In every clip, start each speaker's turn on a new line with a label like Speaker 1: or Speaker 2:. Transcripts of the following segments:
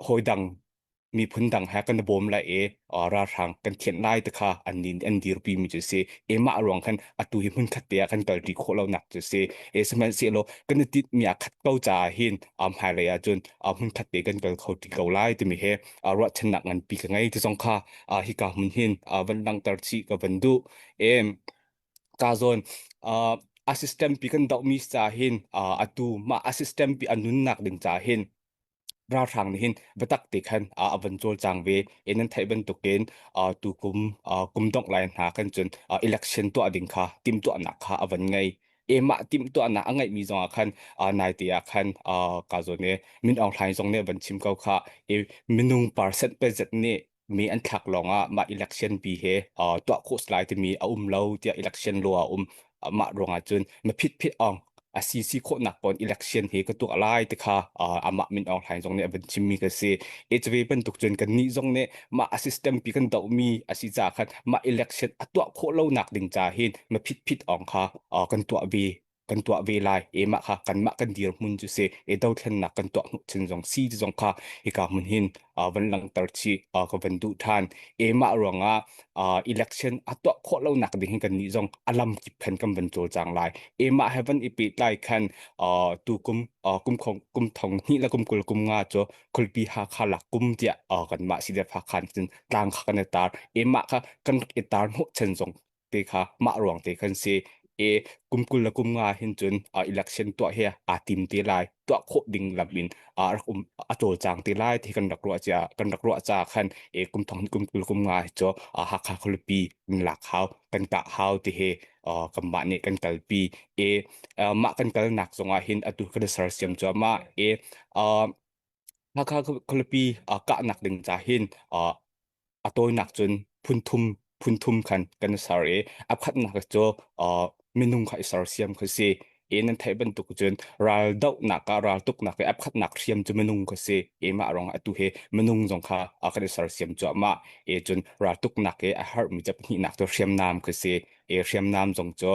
Speaker 1: hawi dang miphun dang he kan bawm lai i ralhrang kan thianh lai te kha an nin an dirpi mi cu si e mah ruang khan atu hi hmun khat te ah kan kal ri khawh lo nak cu si e sihmanhsehlaw kan i tit mi a khat ko ca ah hin hmai lei ah cun hmun khat te kan kal kho ti ko lai timi he ruahchannak ngan pi ka ngei ti zong kha hi ka hmun hin van langhter chih ka van duh em ka zawn uh, assistant pi kan doh mi ca hin uh, atu ma assistant pi anunnak ding ca hin ralhrang nih hin biatak te khan uh, avan col cang ve in an theih bantukin uh, tu kum uh, kum dongh lai hna kan cun uh, election tuah ding kha tim tuah nak kha avan ngai emah tim tuah nak a ngai mi zong ah khan uh, nai te ah khan uh, ka zawn ne min ong hlain zong ne van chim kau kha e minung percent pe zet ne mi an thlak lawng ah mah election pi he uh, tuah khawh lai timi a um lo tiah election law a um mah ruangah cun ma phit phit ong a si si khawh nak pon election he ka tuak lai te kha amah min ong hlain zong nih a van chimmi ka si e chwe bantuk cun kan ni zong nih mah a system pi kan do mi a si ca khan mah election a tuah khawh lo nak ding ca hin ma phit phit ong kha kan tuah ve kan tuah ve lai e mah kha kan mah kan dir mun chu se e dothlennak kan tuah hnu chin zong si zong kha hika mun hin van langter chi ka van du than e mah ruanga election a tuah kho lo nak ding hin kan ni zong alam kip phen kan van chol chang lai e mah heaven i pe tlai khan tu kum kum khong kum thong ni la kum kul kum nga cho khulpi ha kha la kum tia kan ma si de fa khan chin tlang kha kan tar e mah kha kan itar mu chen zong te kha mah ruang te kan si e kum kul le kum nga hin cun uh, election tuah he a tim te lai tuah khawh ding lam in a rak um a col chang te lai ti kan rak ruah cha kan rak ruah cha khan e kum thong kum kul kum nga hi cho a ha kha kholopi in lak hau kan ta hau ti he uh, kan mah ne kan kal pi e uh, mah kan kal nak zong ah hin atu kan sar siam cho ma e uh, hakha kholopi ka nak ding cha hin uh, a tawinak cun phunthum phunthum khan kan i ser i a khatnak cu minung kha i sersiam kha si i nan theih bantuk cun ral dohnak ah ral tuknak i a khatnak hriam cu minung kha si i mah rong atu hi minung zong kha a kan i sersiam cuahmah i cun ral tuknak i a herhmi ca pahnihnak cu hriamnam kha si i hriamnam zong cu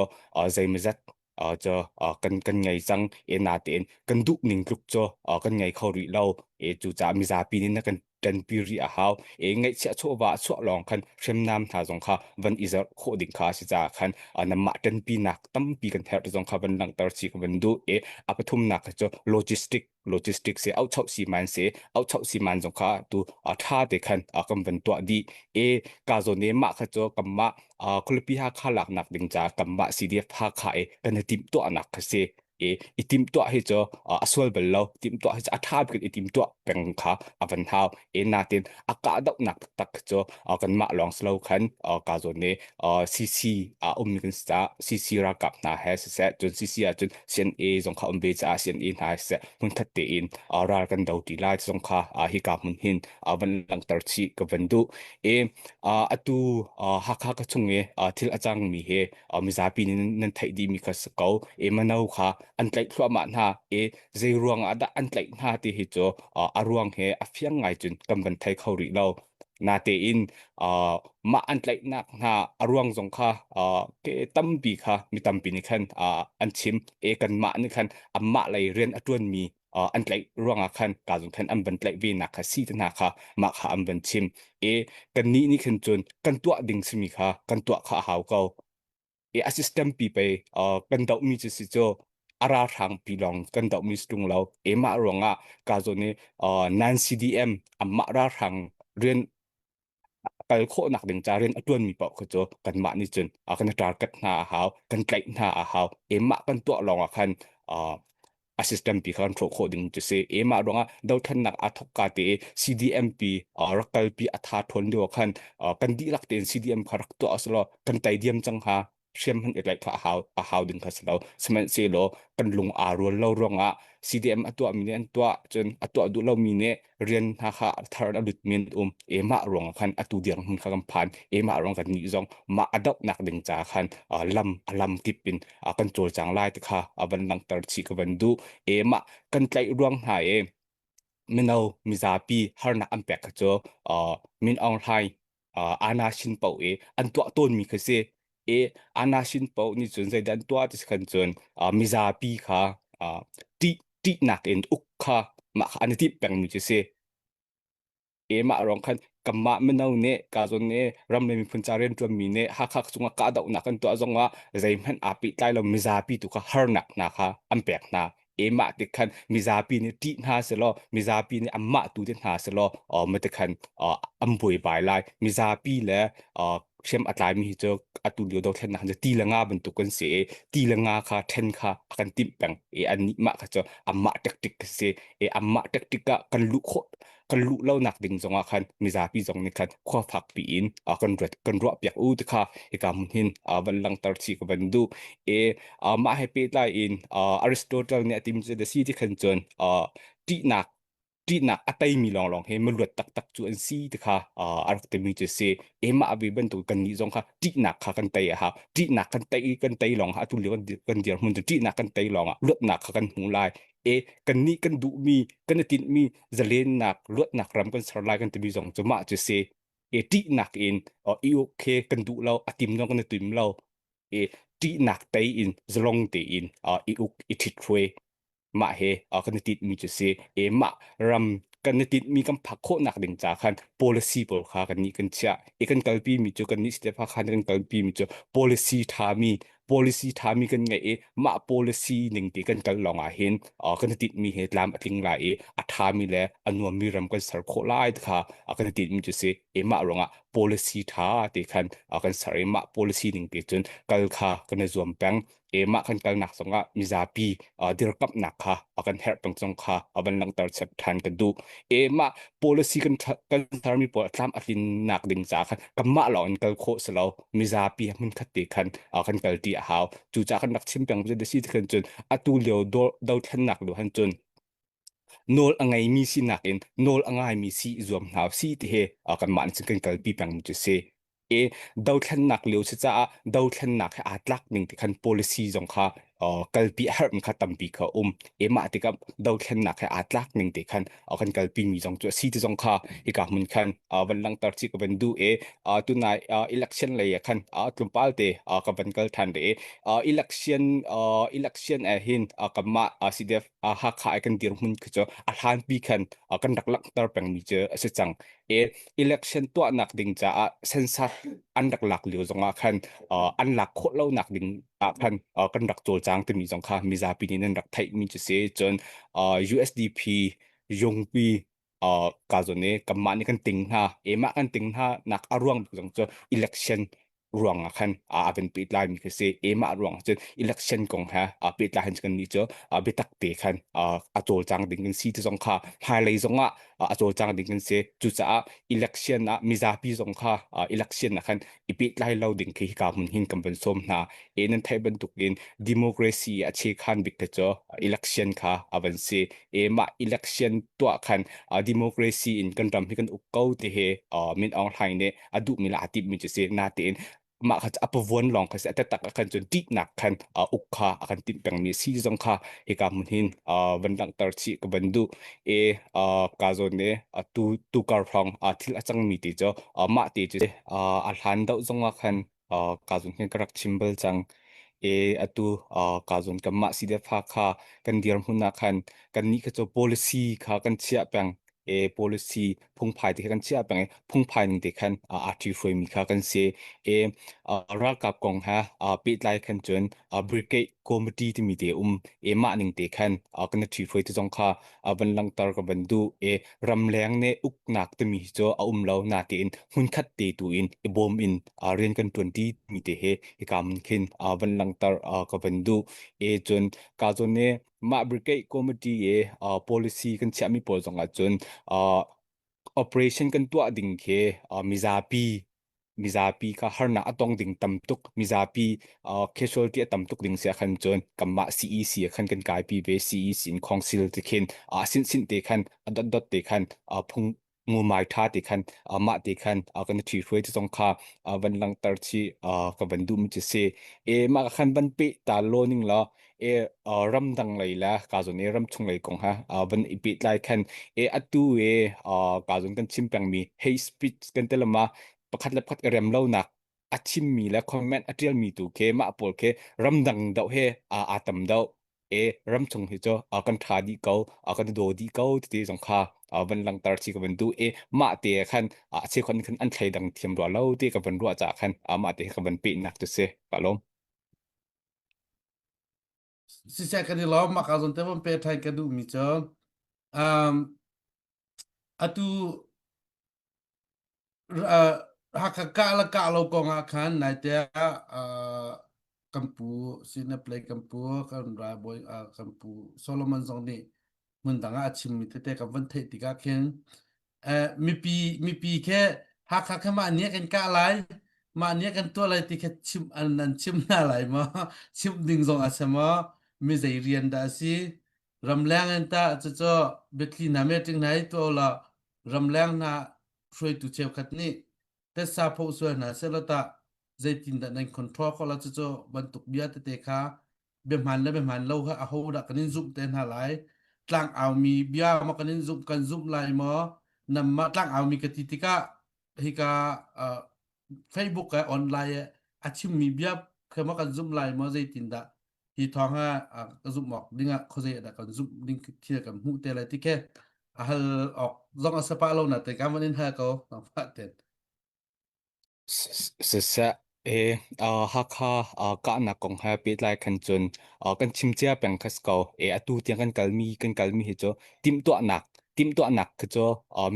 Speaker 1: zeimazat uh, cu uh, kan kan ngei cang e na tein kan duh ning tluk cu uh, kan ngei kho rih lo e cu ca mizapi nin na kan tan pi ri a hau e ngai chia cho wa cho long khan hrem nam tha zong kha van izar kho ding kha si cha khan ana ma tan pi nak tam pi kan her zong kha van lang tar chi ka van du e apathum nak chu logistic logistics se au chau si man se au chau si man zong kha tu a tha te khan a kan van tua di e ka zo ne ma kha cho kam ma a khulupi ha kha lak nak ding cha kam ma si dia tha kha e kan tim to anak kha se e itim to hi cho asol bel lo tim to hi a tha bil itim to peng kha avan hau e na ten aka dau nak tak cho kan ma long slow khan ka zo ne cc a um kan sa cc ra kap na he se se chun cc a chun CNA zong kha um ve caah CNA hna hmun that tein ral kan do ti lai zong kha hi ka mun hin van langter chi ka van du e atu hakha ka chung e thil acang mi he mizapi nan thai di mi ka ko e mano kha an tlaih thluwa ma hna e zei ruang ah dah an tlaih hna ti hi cho a ruang he a fiang ngai cun kan van thai kho rih lo Natein uh, mah an tlaihnak hna a ruang zong kha uh, ke tampi kha mi tampi nih khan uh, an chim e kan mah nih khan amah lei rian a tuan mi uh, an tlaih ruangah khan ka zong khan an van tlaih ve nak kha si te hna kha mah kha an van chim e kan nih nih khan cun kan tuah ding simi kha kan tuah kha a hau ko i a system pi pe uh, kan doh mi si cu a ralhrang pi lawng kan doh mi tung lo e mah ruang ah ka zo ni uh, nan CDM amah ralhrang rian kal khawh nak ding ca rian atuan mi pau khu cu kan mah ni cun a kan target hna a hau kan tlaih hna a hau e mah kan tuah lawng ah khan uh, a system pi kha an ṭhawh khawh ding cu si e mah ruangah dothlannak a thok ka te CDM pi rak kal pi a tha ṭhawn lio khan kan dihlak tein CDM kha rak tuah aslo kan tai diam cang ha hriam hman ilaih kha a hau a hau ding kha silo sihmanhsehlaw kan lung aa rual lo ruangah CDM a tuah mi nih an tuah cun a tuah duh lo mi nih rian hna kha thar a lut min um emah ruang khan atu dirang hun kha kan phan emah ruang kan ni zong ma adop nak ding cha khan lam lam kip in kan chol chang lai te kha avan langter chi ka van du emah kan tlai ruang hna e mino mizapi harnak an pek ka cho min ong hlai uh, ana sin pau e an tua ton mi kha si e ana sin pau ni chun zeidan tua ti khan chun uh, mizapi kha uh, ti ti nak in uk kha ma kha an ti peng mi chu si e ma rong khan kamma mino ne ka zon ne ram le miphun cha rian tuan mi ne ha kha chunga ka dau na kan tua zonga zei hman api tlai lo mizapi tu kha har nak na kha an pek na emah te khan mizapi nih ṭih hna selaw mizapi nih anmah tu te hna selaw um te khan an buai bai lai mizapi le hrem a tlaimi hi cu atu lio dothlen khan cu ti le nga bantuk kan si i ti le nga kha ṭhen kha a kan timh peng i annih mah kha cu anmah ṭekṭik ka si i anmah ṭekṭik ah kan luh khawh kan luh lonak ding zongah khan mizapi zong nih khan khua fak piin uh, kan ruat kan ruah piak u te kha hika mun hin uh, van langtar chi ka van du e uh, mah he pe lai in uh, aristotle nih atim chu si ti khan chun uh, ṭihnak ṭihnak a teimi lawnglawng he maluat taktak cu an si te kha uh, a rak timi cu si ema abi bantuk kan nih zong kha ṭihnak kha kan tei a ha ṭihnak kan tei kan tei lawng ha atu lio kan dir mun tu ṭihnak kan tei lawng ah luatnak kha kan hmu lai e kannih kan duhmi kan i tinhmi zalennak luatnak ram kan ser lai kan timi zong cu mah cu si e ṭihnak in o, i uk khi kan duh lo a tim lo kan i tim lo e ṭihnak tei in zalong tein o, i uk i ṭhit hruai mah he o, kan i tinhmi cu si e mah ram kan i tinhmi kan phak khawhnak ding ca khan policy pawl kha kannih kan chiah i kan kalpimi cu kannih Stefa khan kan kalpimi cu policy ṭhami policy thami kan ngai i mah policy ning te kan kal lawng ah hin kan tit mi he tlam atling lai i a thami le a nuam mi ram kan ser khawh lai kha kan tit mi chu si e mah rong ah policy tha te khan kan ser i mah policy ning te cun kal kha kan zuam peng e mah kan kal nak zong ah mizapi dirkap nak kha kan her tong chong kha aban langter chep than ka du e mah policy kan kan ser mi po tlam atlin nak ding cha khan kamma lawng in kal kho selo mizapi hmunkhat te khan kan kalti a hau cucaah kan rak chim peng cu dasi ti khan cun atu lio dothlennak lu han cun nawl a ngeimi si nakin nawl a ngaimi si zuam hna si ti he kanmah nih kan kalpi peng cu si e dothlennak lio si caah dothlennak he aa tlak ning ti khan policy zong kha kalpi a harm kha tampi kha um e mah tikah dothlennak he aa tlak ning te khan kan kalpi mi zong cu a si ti zong kha hika hmun khan van langter ci ka van du e tunai election lei khan tlumpal te ka van kal than re election election e hin kama CDF hakha ai kan dir mun khu a hlan pi khan kan rak langter peng mi cu a si cang e election tuah nak ding caah sensat an rak lak lio zongah khan an lak khawh lo nak ding ah khan uh, kan rak cawlcang timi zong kha mizapi nih nan rak theihmi cu si cun uh, USDP yungpi uh, ka zo ne kanmah nih kan ting hna emah kan ting hna nak a ruang zong cu election ruang ah khan a ben pet lai mi khi si emah ruang cun election kong ha a pet lai han kan ni cu a bitak te khan a cawlcang ding kan si ti zong kha hmailei zong ah a cawlcang ding kan si cucaah election ah mizapi zong kha election ah khan i pehtlai lo ding khi hika hmun hin kan van som hna e nan thai bantuk in democracy a che khan bik te cho election kha avan si e ma election tua khan democracy in kan ram hi kan uk ko te he min ong hlai ne adu mi la atip mi chu si na te in ma kha apavuan long kha se atatak akan chun dik nak khan uk kha akan tin peng mi si zong kha eka mun hin van lang tar chi ka bandu e uh, ka zo ne uh, tu tu kar phong uh, thil a cangmi te cho uh, mah te chu uh, a hlan dau zong a khan uh, ka zon hin ka rak chimbal chang e atu uh, ka zon kan mah si de fa kha kan dir hun na khan kan ni ka cho policy kha kan chia peng e policy phungphai te kha kan chiah peng i phungphai ning te khan a ṭi hruai mi kha kan si i ralkap kong ha pehtlai khan cun brigade committee timi te um e mah ning te khan kan ṭi hruai te zong kha van langhter ka van du e ramleng ne uknak timi cu a um lo na te in hmunkhat te tu in i bom in rian kan ṭuanṭi mi te he i kam khin van langhter ka van du e cun ka zone mah brigade committee i uh, policy kan chiahmi pawl zong ahcun uh, operation kan tuah ding khi uh, mizapi mizapi ka harnak a tong ding tam tuk mizapi uh, casualty a tam tuk ding sia khan chun kamma CEC khan kan kai pi ve CEC in council te khin a sin sin te khan a dot dot te khan a phung ngumai tha ti khan amah ti khan kan thi hruai ti zong kha van langter chi ka van dum chi si e ma ka khan van pe ta lo ning lo e ram dang lei la ka zon e ram chung lei kong ha van i pe tlai khan e atu e ka zon kan chim peng mi hate speech kan telama pakhat le pakhat rem lo nak a chim mi le comment a tial mi tu ke ma pol ke ram dang do he a atam do e ramchung hi cho uh, kan tha di ko uh, kan do di ko ti zong kha uh, van langtar chi ka van du e ma te khan uh, se kon khan an thlai dang thiam ro lo te ka van ro cha khan uh, ma te ka van pe nak tu se pa lom si se kan lo ma ka zon te van pe thai ka du mi cho um atu Hakha kah le kah lo kong ah khan naite ah kan pu Sine Play kan pu kan ralbawi kan pu Solomon zong nih hmundang ah a chimmi tete kan van theih tikah khin mipi mipi khe Hakha khe mah nih kan kah lai mah nih kan tuah lai ti khe chim an nan chim hna lai maw chimh ding zong a si maw mi zei rian dah a si ramleng an ta cucu betli na me ting nai to la ramleng na hruaitu cheukhat nih tessa pho sual hna selo ta zeitin da nan control ko la cucu bantuk bia tete kha behman le behman lo ha aho da kan in zumh te hna lai tlang aumi bia ma kan in zumh kan zumh lai mo namma tlang aumi ka ti tika hika facebook e online e a chimmi bia khema kan zum lai mo zeitin da hi thawng ah ka zumh awk ding ah khuazei ah dah kan zumh ding khi kan hmuh te lai ti ke a hal awk zong a sapa lo na te kan van in hal ko nang fa te sisa e hakha kahna kong ha pe lai khan chun kan chimchia peng khas ko e atu tiang kan kalmi kan kalmi hi cho tim tua nak tim tua nak kha cho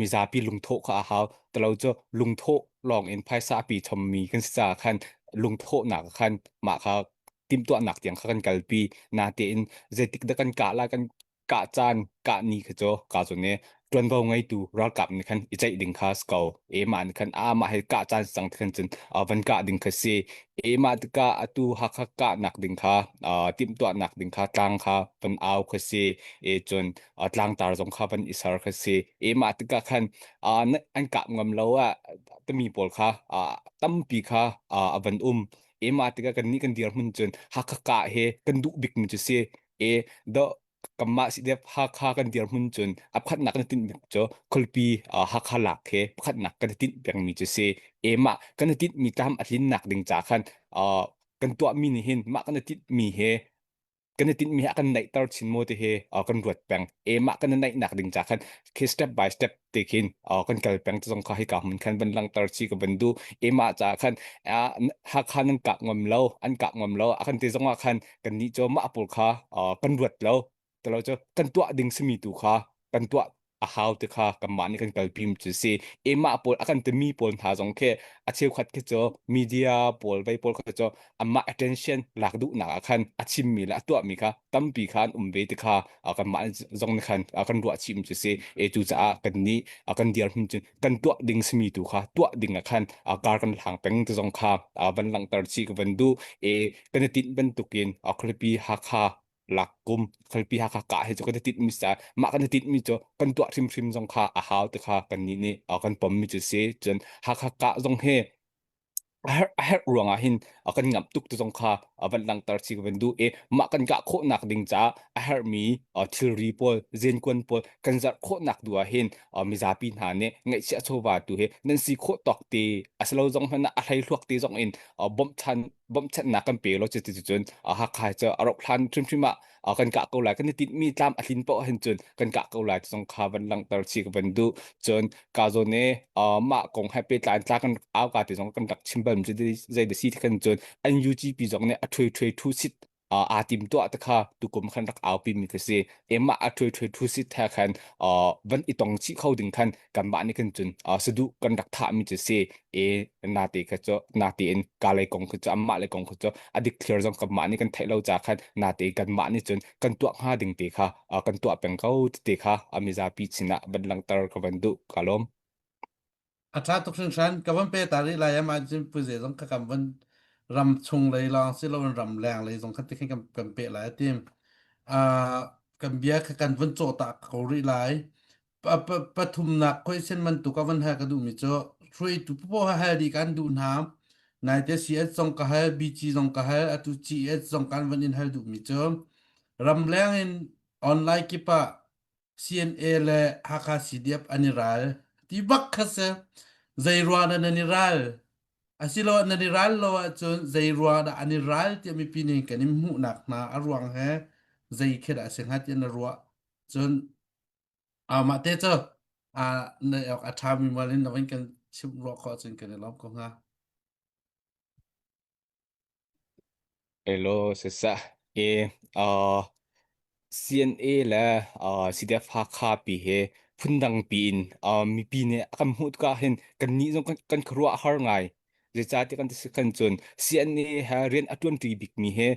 Speaker 1: mizapi lungtho kha a hau talo cho lungtho long in phaisa pi chommi kan sa khan lungtho nak khan ma kha timtuahnak tiang kha kan kalpi natein zeitik dah kan kah la kan kah caan kah ni kha cu ka cu ne tuanvo ngeitu ralkap nih khan i ceih ding kha ko e ma nih khan a mah he kah caan sang khan cun van kah ding kha si e ma tika atu hakha kah nak ding kha timtuah nak ding kha tlang kha van au kha si e cun tlang tar zong kha van i ser kha si e ma tika khan an kap ngam lo a tami pawl kha tampi kha van um ema tika kan ni kan dirmun cun hakha ka he kan duh bik mi cu si e do kamma si dep hakha kan dirmun cun apkhatnak kan tin bik cu khulpi hakha lak he pakhatnak kan tin bek mi cu si ema kan tin mi tam athin nak ding cha khan kan tuah mi ni hin mah kan tit mi he kan i tinhmi a kan naihter chin maw ti hi uh, kan ruat peng em ah kan i naihnak ding ca khan khi step by step te khin uh, kan kal peng zong kha hi ka mun khan van langter chi ka van du em ah ca khan uh, hakha nan kak ngam lo an kak ngam lo a kan ti zong ah khan kan ni cho ma apul kha uh, kan ruat lo talo cho kan tuah ding simi tu kha kan tuah a hau te kha kanmah nih kan kalpi mi cu si emah pawl a kan timi pawl hna zong khi a cheukhat khi cu media pawl vei pawl khi cu amah attention lak duhnak ah khan a chim mi le a tuah mi kha tampi khan um ve te kha kanmah zong nih khan kan ruah chim cu si e cu caah kan nih kan dirhmun cun kan tuah ding simi tu kha tuah ding ah khan kar kan hlang peng te zong kha van langhter chi ka van du e kan i tinh bantukin a khlipi hakha Lakkum khalpi hakha ka he cu kan tit mi sa mah kan tit mi cu kan tuah hrim hrim zong kha a hau te kha kan ni nih uh, kan pom mi cu si cun hakha ka zong he a herh a herh ruang ah hin a kan ngamh tuk tu zong kha a van langhter chi ka van duh i mah kan kah khawh nak ding ca a herh mi uh, thilri pawl zenkuan pawl kan zarh khawh nak du ah hin uh, mizapi hna nih ngaihchia chawva tu hi nan si khawh tawk te a si lo zong hmanh ah a hlei thluak te zong in uh, bawmh than bawmchannak kan pe lo cu ti cun a hakha cu a rok hlan hrimhrim ah kan kah ko lai kan i tinh mi tlam a hlin poh hin cun kan kah ko lai zong kha van langhter chi ka van du cun ka zo ne mah kong he pe tlan tla kan au ka te zong kan rak chim bal mi cu zei da si kan cun NUGP zong ne a thuai thuai thu sit uh, aa tim tuah te kha tukum khan rak aupi mi ka si emma a thui thui thu sit tha khan uh, van i tong chi kho ding khan kan ma ni kan chun uh, sadu kan rak tha mi chu si e na te kha cho na te in ka lai kong khu cho amma lai kong khu cho adik thlir zong kan ma ni kan thai lo cha khan na te kan ma ni chun kan tua ha ding te kha uh, kan tua peng ko te kha amiza pi china ban lang tar ka van du kalom A ṭha tuk hringhran. Ka van pe ta rih lai am ahcun pu ze zong kha kan van ram chung lei lawng si loin ram leng lei zong khan tikhin kan, kan peh lai a tim. Uh, kan bia kha kan van cawh ta ko rih lai. Pa- pa- pathumnak question bantuk a van hal ka duhmi cu hruaitu popoh ha hal dih kan duh hna naite CS zong ka hal BG zong ka hal atu CES zong kan van in hal duhmi cu ramleng in online kip ah CNA le Hakha CDF an i ral. Ti bak kha se, zei ruang dah nan i ral? Asilo nan i ral lo ahcun zei ruang dah an i ral tiah mipi nih kan in hmuhnak hna a ruang he zei khi dah a si hnga tiah na ruah. Cun uh, mah te cu uh, na awk a ṭha mi mal in na in kan chimh ruah khawh cun kan i lawm ko hnga. Hello, sisah. Ke uh, CNA le uh, CDF Hakha pi he phundang pi in uh, mipi nih a kan hmuh ka hin kan ni zong kan, kan khuruah har ngai. Zeicati kan ti kan cun CNA he rian a tuan ti bik mi he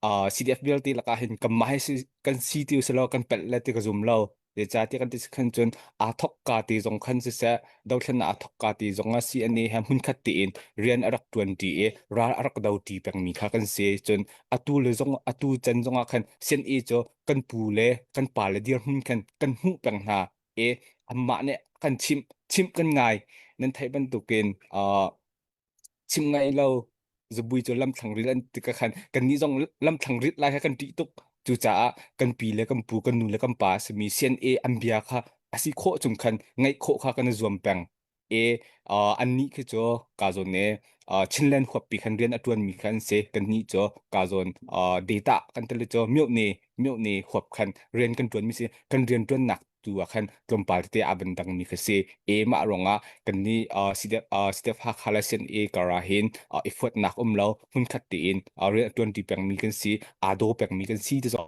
Speaker 1: uh, CDF vialte lakah hin kanmah he si, kan si ti selaw kan pelh le ti ka zum lo zeicahtiah kan ti khan cun aa thok ka ti zong khan siseh dothlen aa thok ka ti zong a CNA he hmunkhat tiin rian a rak tuan ti i ral a rak do ti pengmi kha kan si cun atu le zong atu can zong ah khan CNA cu kan pu le kan pa le dirhmun khan kan hmuh peng hna i anmah nih kan chimh chimh kan ngai nan theih bantukin uh, chim ngai lo zabui cu lamthlang rit an ti ka khan kan ni zong lamthlang rit lai kha kan ṭih tuk cucaah kan pi le kan pu kan nu le kan pa simi CNA an bia kha asi khawh chung khan ngaih khawh kha kan i zuam peng e uh, an ni khi cu ka zawn ne uh, Chinland huappi khan rian a tuan mi khan se kan ni cu ka zawn uh, data kan tele cu myo ne myo ne huap khan rian kan tuan mi si kan rian tuan nak tu ah khan tlawmpal te a ban dang mi ka se e ma ronga kan ni sidep sidep ha khala sen e kara hin i fuat nak um lo hun khat te in real 20 peng mi kan si ado peng mi kan si te so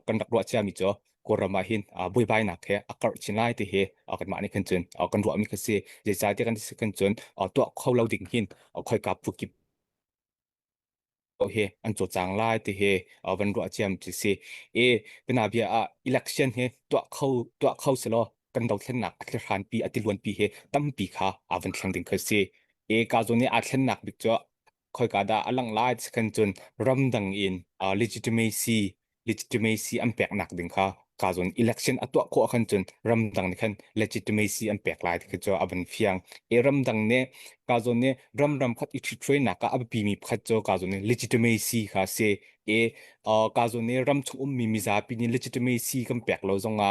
Speaker 1: kan rak ro cha mi cho korama hin boi bai nak he akar chinai te he kan ma ni kan chun kan ro mi ka se je sa te kan kan chun to kho lo ding hin khoi ka pu ki ko hi an co cang lai ti hi uh, van ruah ciam chi si e bina bia ah election hi tuah kho tuah kho se lo kan dothlennak a thlan pi a tiluan pi hi tampi kha avan thlang ding khơi si e ka zo ni a thlennak bik chu khoi ka da alang lai kan chun ramdang in uh, legitimacy legitimacy an peknak ding kha ka zon election atuah ko khan chun ramdang ni khan legitimacy an pek lai ti cho aban fiang e ramdang ne ka zon ne ram ram khat i thuthwe na ka api mi khat cho ka zon ne legitimacy kha se e ka zon ne ram chung um mi mizapi ni legitimacy kan pek lo zonga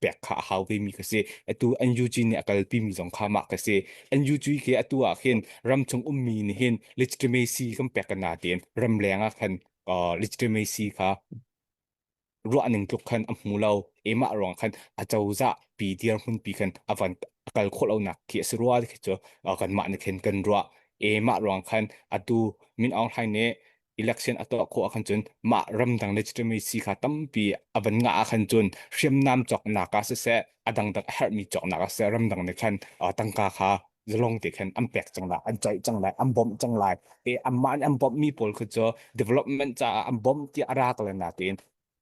Speaker 1: pek kha a hau vemi ka si. Atu NUG nih a kalpimi zong kha mah ka si. NUG ke atu ah khin ramchung ummi nih hin legitimacy kan pek kana tiin ramleng ah khan uh, legitimacy kha ruahning tluk khan a hmu lo emah ruang khan a cozah pi dirhmun pi khan avan kal kho lo nak khi a rua khi chu uh, kan mah ne khen kan rua emah ruang khan atu min aung hlain ne election a tuah khawh ahkhan cun mah ramdang legitimacy kha tampi a van ngah ahkhan cun hriamnam cawknak ah siseh a dangdang a herhmi cawknak ah siseh ramdang nih khan tangka kha zalong te khan an pek cang lai an caih cang lai an bawmh cang lai e amah nih an bawmhmi pawl khu cu development caah an bawmh ti a rak le nain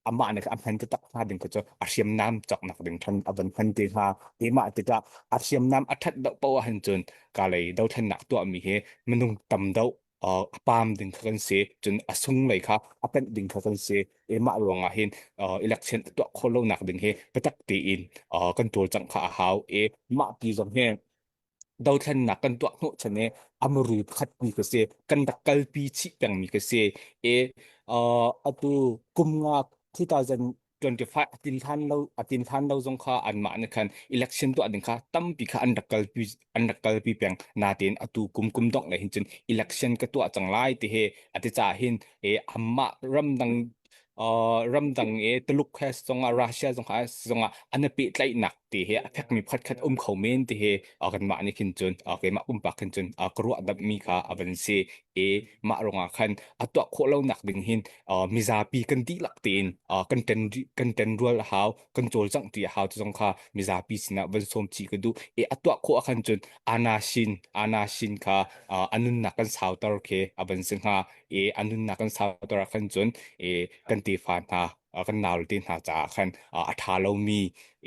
Speaker 1: amah nih a hman tak hna ding cu a hriamnam cawknak ding khan a van hman te hnga e mah tikah a hriamnam a that do po ahhan cun kalei dothlennak tuahmi hi minung tam do uh, pam ding kha kan si cun a sunglei kha a panh ding kha kan si e mah ruangah hin uh, election tuah kho lo nak ding hi biatak tein uh, kan tual cang kha a hau e mah pi zong hi dothlennak kan tuah hnawh chan e amru khat pi ka se kan dak kal pi chi peng mi ka se e uh, atu kumnga 2000 25 a tin hlan lo a tin hlan lo zong kha anmah ne khan election to ading kha tampi kha an rak kalpi an rak kalpi peng natin atu kum kum dong le hin cun election ka tua chang lai te he ate cha hin e amma ramdang uh, ramdang e tuluk he songa russia zong ha songa ana pe tlai nak te he athak mi phat khat um kho men te he agan ma ni khin chun okay ma um pa khin chun akru adab mi ka aban se e ma ronga khan atwa kho lo nak ding hin uh, mizapi kan dihlak tein uh, kan ten kan ten rual a hau kan cawlcangh ti a hau tu zong kha mizapi sinah van som chi ka du e atwa kho akhan chun ana shin ana shin kha uh, anun na kan sautar ke aban singa e anun na kan sautar akhan chun e kan te fa na kan naul te hna cha khan a tha lo mi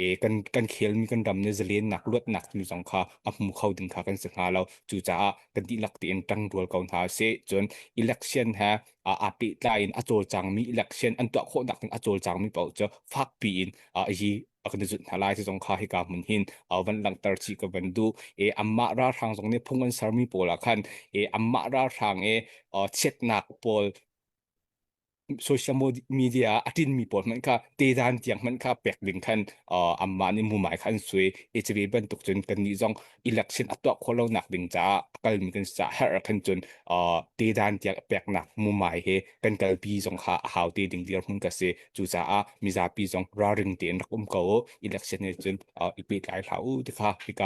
Speaker 1: e kan kan khel mi kan ram ne zalen nak luat nak nu zong kha a hmu kho din kha kan se nga lo chu cha kan di lak te in tang rual ko na se chun election ha aa pehtlai in a cawlcangmi election an tuah khawhnak ding a cawlcangmi paoh cu fakpi in yi a kan zut hna lai ti zong kha hika mun hin van langhter chi ka van du e amma ralhrang zong nih phung an sermi pawl ah khan e amma ralhrang e chiatnak pawl social media a tinmi pawl hmanh kha tedan tiang hmanh kha pek ding khan amma nih mumai kha an sui e cabe bantuk cun kan nih zong election a tuah khawh lonak ding caah a kalmi kan caah har khan cun tedan tiah peknak mumai he kan kalpi zong kha a hau te ding dir mun ka si cucaah mizapi zong ralring tein rak um ko election he cun i pehtlai hlah u tikha hika